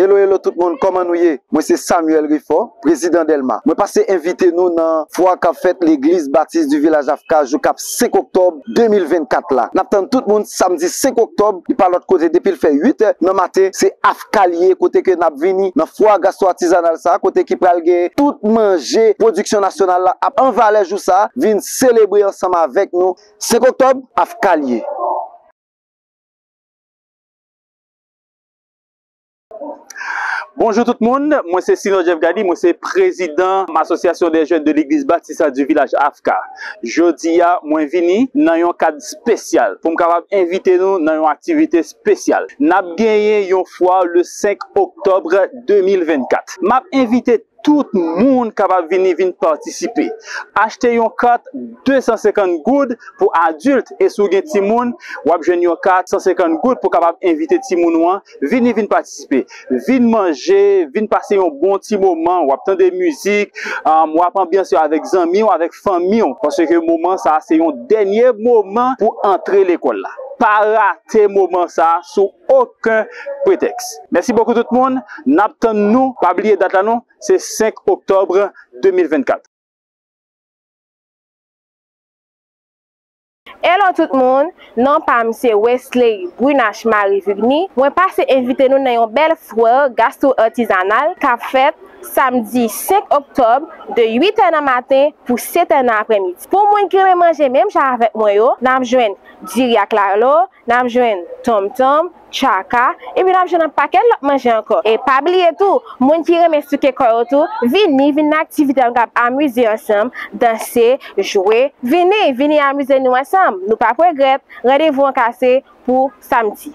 Hello hello tout moun kòman nou ye mwen se Samuel Rifo prezidan delma mwen pase envite nou nan fwa kap fèt legliz batis du village avka jou kap 5 oktòb 2024 la nap tann tout moun samdi 5 oktòb li pa lòt kote depil fè 8 è nan maten se avka li ye kote ke nap vini nan fwa gastro atizanal sa kote ki pral gen tout manje pwodiksyon nasyonal la ap an valè jou sa vin selebre ansanm avèk nou 5 oktòb avka li ye. Bonjou tout moun, mwen se Sino Jeff Gady, mwen se prezidan Asosyasyon dè jèn de legliz batista di vilaj AFK. Jodi a, mwen vini nan yon kad spesyal pou m kapab envite nou nan yon aktivite spesyal. N ap genyen yon fwa le 5 oktòb 2024. M ap envite Tout moun kapab vini vin patisipe. Achte yon kat 250 goud pou adilt e si w gen timoun, w ap jwenn yon kat 150 goud pou kapab envite timoun ou an vini vin patisipe. Vin manje, vin pase yon bon ti moman, w ap tande mizik, w ap anbyanse w avèk zanmi w, avèk fanmi w. Paske moman sa a se yon dènye moman pou antre lekòl la. Pa rate moman sa a si w oken pretèks. Mèsi bokou tout moun, nap tann nou, pa bliye dat la non, se 5 oktòbr 2024. Hello tout moun, non pam se Wesley Brunache Marie Vigny, mwen pase envite nou nan yon bèl Foire Gastro-Artisanale kap fèt Samdi 5 Oktòb de 8 è nan maten pou 7 è nan aprèmidi. Pou moun ki renmen manje menm jan avèk mwen yo, nap jwenn diri ak lalo, N ap jwenn tonmtonm, tchaka, epi n ap jwenn yon pakèt lòt manje ankò. E pa bliye tou, moun ki renmen souke kò yo tou, vini, vin nan aktivite a nou kab amize ansanm, danse, jwe. Vini, vini amize nou ansanm, nou pap regrèt, randevou an kase pou samdi.